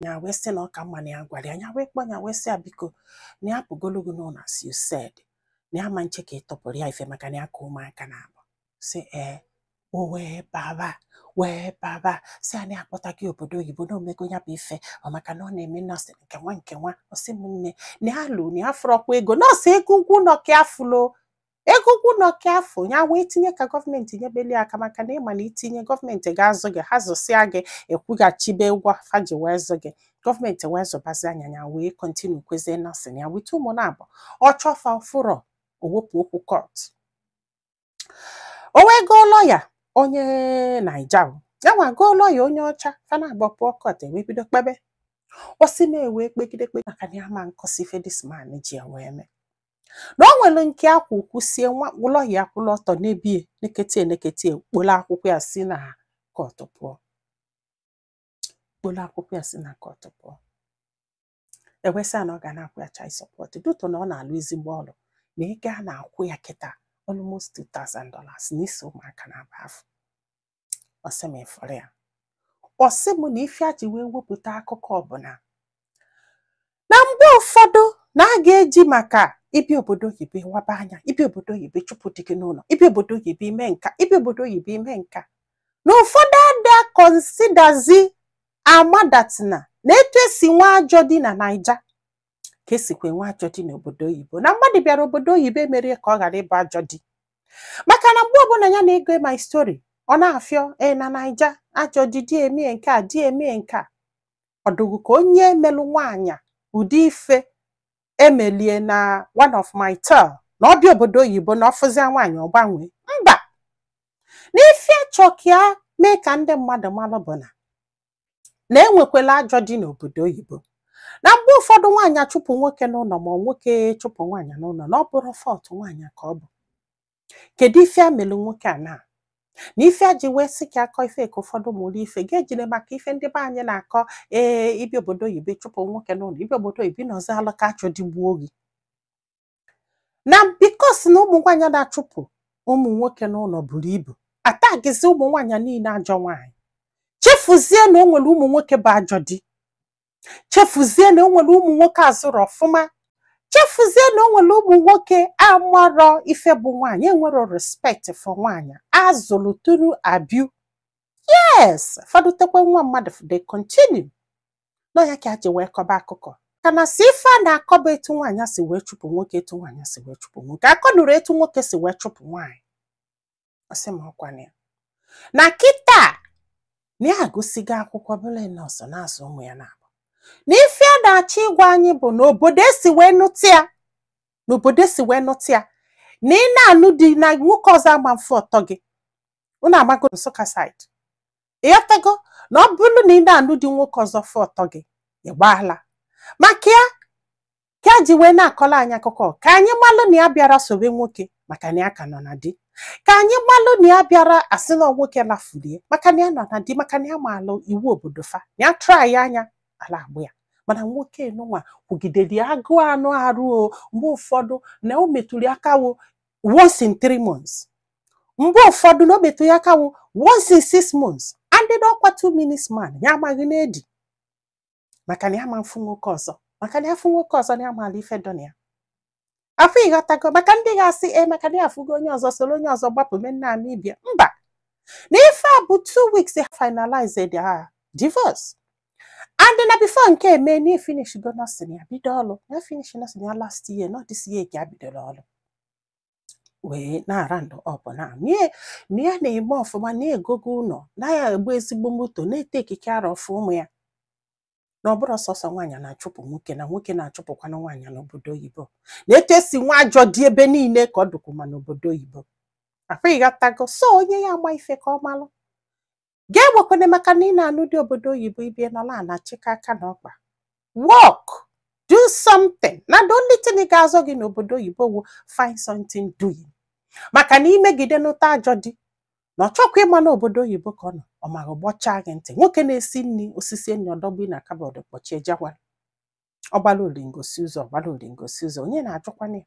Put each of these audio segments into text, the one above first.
nya wee sị na ọ ka mma na ya gwara ya nya wee kpọ nya wee sị ya biko na ya pụgolu gị n'ụnọ as you said na ya ma nche ka ị tọpụrụ ya ife maka na ya ka ụmụaka naabọ sị ee o wee baba wee baba sị ya na ya akpọta gị obodo oyibo na o mego ya bụ ife ọ maka na ọ na-eme nọọsụ nke nwa nke nwa ọ sị m nne na ya lụ na ya fụrọkwa ego nọọsụ ego ụgwọ ụnọ ka ya fụlo ego ụgwọ ụnọ ka afọ nya wee tinye ka gọọmenti nyebelu ya aka maka na ị ma na i tinye gọọmenti ga-azụ gị ha zụsịa gị ị kwụghachibe ụgwọ fa ji wee zụ gị gọọmenti wee zụbazia nya nya wee kọntinukwazie nọsịn ya with ụmụ naabọ ọ chọ fa ọ fụrọ o wepụ okwu kọt o wee goo lọya onye naija ya nwa goo lọya onye ọcha fa naabọ pụọ kọt e wee bido kpebe ọ sị m na e wee kpegide kpegide maka na ya ma nkọsị ife this man ji ya wee mee na o nwere nke a kwụ kwụsie nwa lọya akwụlụ ọtọ nebe ya nekete ya nekete ya kpolu akwụkwọ ya si na kọtụ pụọ kpolu akwụkwọ ya si na kọtụ pụọ e wee sị ya na ọ ga na-akwụ ya child support due to na ọ na-alụ ezigbo ọlụ na ego a na-akwụ ya kịta almost $2000 n'isi ụmụaka naabọ afụ ọ sị m ị fụrụ ya ọ sị m na ife ya ji wee wepụta akụkọ a bụ na mgbe ụfọdụ na a ga-eji maka ibi obodo oyibo waba anya i bi obodo oyibo chụpụ di gị n'ụlọ i bi obodo oyibo i mee nke a i bi obodo oyibo i mee nke a na ụfọdụ ada konsidazi amadatina na etu e si enwe ajọ di na naija ka e sikwa enwe ajọ di n'obodo oyibo na mmadụ bịara obodo oyibo emerọ ya ka ọ ghara ịbụ ajọ di maka na mgbe ọbụla ya na-agụ my story ọ na-afịọ e na naija ajọ di di emee nke a di emee nke a ọ dị gị ka onye melụ nwaanyị ụdị ife e melụ ya na one of my tale na ọ bịa obodo oyibo na ọ fụzia nwaanyị ọ gbanwee mba na ife ya chọ ka ya mee ka ndị mmadụ malụ bụ na na e nwekwelụ ajọ di n'obodo oyibo na mgbe ụfọdụ nwaanyị achụpụ nwoke n'ụnọ ma nwoke chụpụ nwaanyị n'ụnọ na ọ bụrọ fault nwaanyị ka ọ bụ kedu ife e melụ nwoke a na na ife ya ji wee sị ka ya kọọ ife ka ụfọdụ mụrụ ife ga-ejire maka ife ndị be anyị na-akọ ee i bi obodo oyibo chụpụ nwoke n'ụnọ i bi obodo oyibo nọzialụ ka ajọ di gbuo gị na because na ụmụ nwaanyị na-achụpụ ụmụ nwoke n'ụlọ buru ibu atagizi ụmụ nwaanyị niile ajọ nwaanyị chefuzie na o nwere ụmụ nwoke bụ ajọ di chefuzie na o nwere ụmụ nwoke azụrọ ọfụma chefuzie na o nwere ụmụ nwoke amarọ ife bụ nwaanyị enwero respect for nwaanyị a zụrụ through abuse fa dutekwa nwa mmadụ they continue na ọ ya ka a ji wee kọba akụkọ ka na si ife a na-akọba etu nwaanyị si wee chụpụ nwoke etu nwaanyị si wee chụpụ nwoke akọ nụrụ etu nwoke si wee chụpụ nwaanyị ọ sị ma ọ kwa na ya na kịta na ya agụsigo akwụkwọ bụla nọọsụ na-azụ ụmụ ya na ya bụ na ife ya na-achọ ịgwa anyị bụ na obodo e si wee nụta ya na obodo e si wee nụta ya na ị na-anụ di na nwoke ọzọ ama mfụ ọtọ gị unu amago Nsụka side ịghọtago na ọ bụrụ na ị na-anụ di nwoke ọzọ fụ ọtọ gị ị gbaa ala maka ya ka ya ji wee na-akọla anyị akụkọ ka anyị malụ na ya bịara sobe nwoke maka na ya ka nọ na di ka anyị malụ na ya bịara asị na nwoke lafulie maka na ya nọ na di maka na ya maalụ iwu obodo fa na ya try anya ala agba ya mana nwoke nụnwa kwụgidere ya agụụ anụ arụ o mgbe ụfọdụ na o metụrụ ya aka wụ once in three months mgbe ụfọdụ na o metụ ya aka wụ once in six months and then ọkwa two minutes man ya amaghị na-edi maka na ya ma mfụ nwoke ọzọ maka na ya fụ nwoke ọzọ na ya maala ife dọ na ya afọ ịghọtago maka ndị ga-asị e maka na ya afụgo onye ọzọ soro onye ọzọ gbapụ mee Namibia mba na ife a bụ two weeks they finalized their divorce and na before nke a eme na ya finish go nursing ya bido ọlụ na ya finish nursing ya last year not this year ka ya bidola ọlụ wee na-ara ndụ ọfụma na ya na-eme ọfụma na ya egogo ụnọ na ya egoo ezigbo moto na-etake care of ụmụ ya na ọ bụrọ sọsọ nwaanyị na-achụpụ nwoke na nwoke na-achụpụkwana nwaanyị n'obodo oyibo na etu e si nwe ajọ di ebe niile ka ọ dụkwuma n'obodo oyibo afụ ịghọtago so onye ya ama ife ka ọ malụ gị agwakwana maka na ị na-anụ di obodo oyibo ị bịa nọla na-achịkọ aka na ọkpa work do something na the only thing ga-azọ gị n'obodo oyibo wụ find something doing maka na i megide nụta ajọ di na ọ chọkwa ịma na obodo oyibo ka ọ nọ ọ maghị gbọchaa gị ntị nwoke na-esi nri o sisie nni ọ dọba ya na kabọd kpọchie jawara ọ gbala olingo sie ụzọ ọ gbala olingo sie ụzọ onye na-ajụkwana ya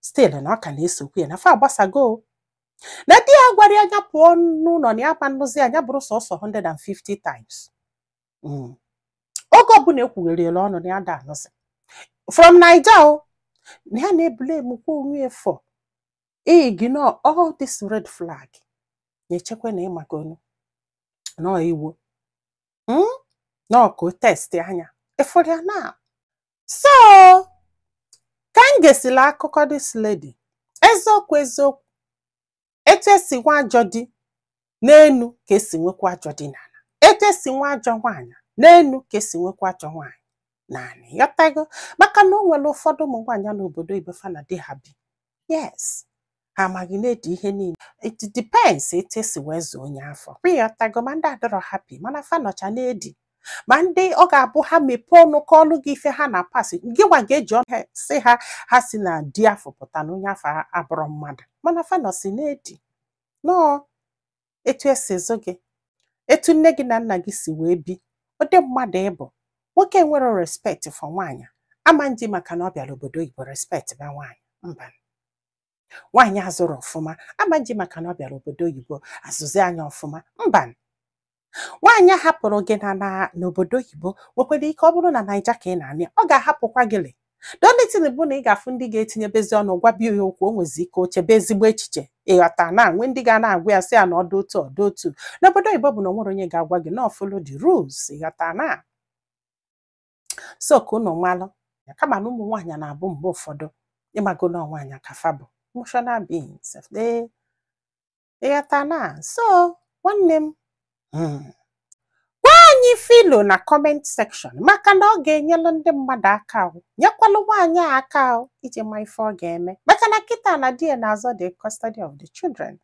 still na ọ ka na-esokwu ya na fa agbasago o. na di ya gwara ya na ya pụọ n'ụlọ na ya ma nnụzi anya bụrụ sọsọ 150 times Mm. oge ọ bụla ekwugheriela ọnụ na ya da anụzi from naija o na ya na-eblamekwa onwe ya for ignore all this red flag na-echekwa na ị makwanụ na ọ egwu Mm? na ọ ka ọ test anya ịfụrụ ya na so ka m gesila akụkọ this lady eziokwu eziokwu etu e si nwe ajọ di n'enu ka e si nwekwa ajọ di n'ala etu e si nwe ajọ nwaanyị n'enu ka e si nwekwa ajọ nwaanyị n'ala ịghọtago maka na o nwere ụfọdụ ụmụ nwaanyị n'obodo ibe fa na di ha bi yes ha amaghị na-edi ihe niile it depends etu esi wee zụọ onye afụ ịghọtago ma ndị adịrọ happy mana fa nọcha na-edi ma ndị ọ ga-abụ ha mepee ọnụ kọọlụ gị ife ha na-apass gịnwa ga-eji ọnụ ha sị ha ha si na di afụ pụta na onye afụ abụrọ mmadụ mana fa nọsi na-edi nọọ etu esi zụ gị etu nne gị na nna gị si wee bi ụdị mmadụ ị bụ nwoke nwere respect for nwaanyị ama nji maka na ọ bịara obodo oyibo respectiba nwaanyị mba nwaanyị a zụrụ ọfụma ama nji maka na ọ bịara obodo oyibo azụzi anya ọfụma mba nwaanyị a hapụrụ gị na na n'obodo oyibo nwekwara ike ọ bụrụ na naija ka ị na ya nọ ọ ga-ahapụkwa gị le the only thing bụ na ị ga-afụ ndị ga-etinyebezi ọnụ gwaba ya okwu o nwezi ike o chebe ezigbo echiche ịghọta na e nwee ndị ga na-agwa ya sị ya na ọ dụ otu ọ dụ otu n'obodo oyibo bụ na o nwerọ onye ga-agwa gị na ọ follow the rules ịghọta na so ka unu malụ ya kama na ụmụ nwaanyị na-abụ mgbe ụfọdụ ịmago na nwaanyị ka fa bụ emotional beings Ịghọta na? So, nwanne m, hmm, gwa anyị filo na comment section maka na ọ ga-enyelụ ndị mmadụ aka ahụ nyekwalụ nwaanyị a aka ahụ iji ma ife ọ ga-eme maka na kịta na di ya na-azọ the custody of the children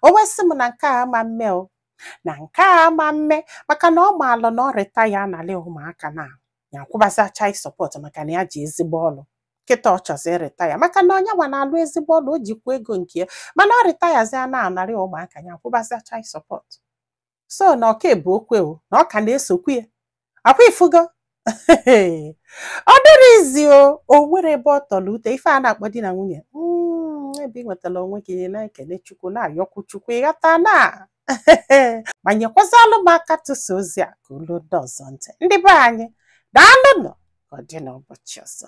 o wee sị m na nke a ama mme o na nke a ama mme maka na ọ maalụ na o rita ya analị ụmụaka na ya akwụbazi child support maka na ya ji ezigbo ọlụ kịta ọ chọzi irita ya maka na onye nwa na-alụ ezigbo ọlụ o jikwa ego nke ya mana o rita ya zi a na-anarị ụmụaka ya akwụbazi child support so na ọ ka bụ okwu o na ọ ka na-esokwu ya ọ kwa ị fụgo ọ dịrọ easy o o nwerọ ebe ọ tọrọ ute ife a na-akpọ di na nwunye Mm, ebe ị nwetara onwe gị na-ekele chukwu na-ayọkwu chukwu ịghọta na ma nyekwazalụ m aka tụsa ozi a ka o luo ndị ọzọ ntị ndị be anyị daalụnụ ka ọ dị n'ụbọchị ọzọ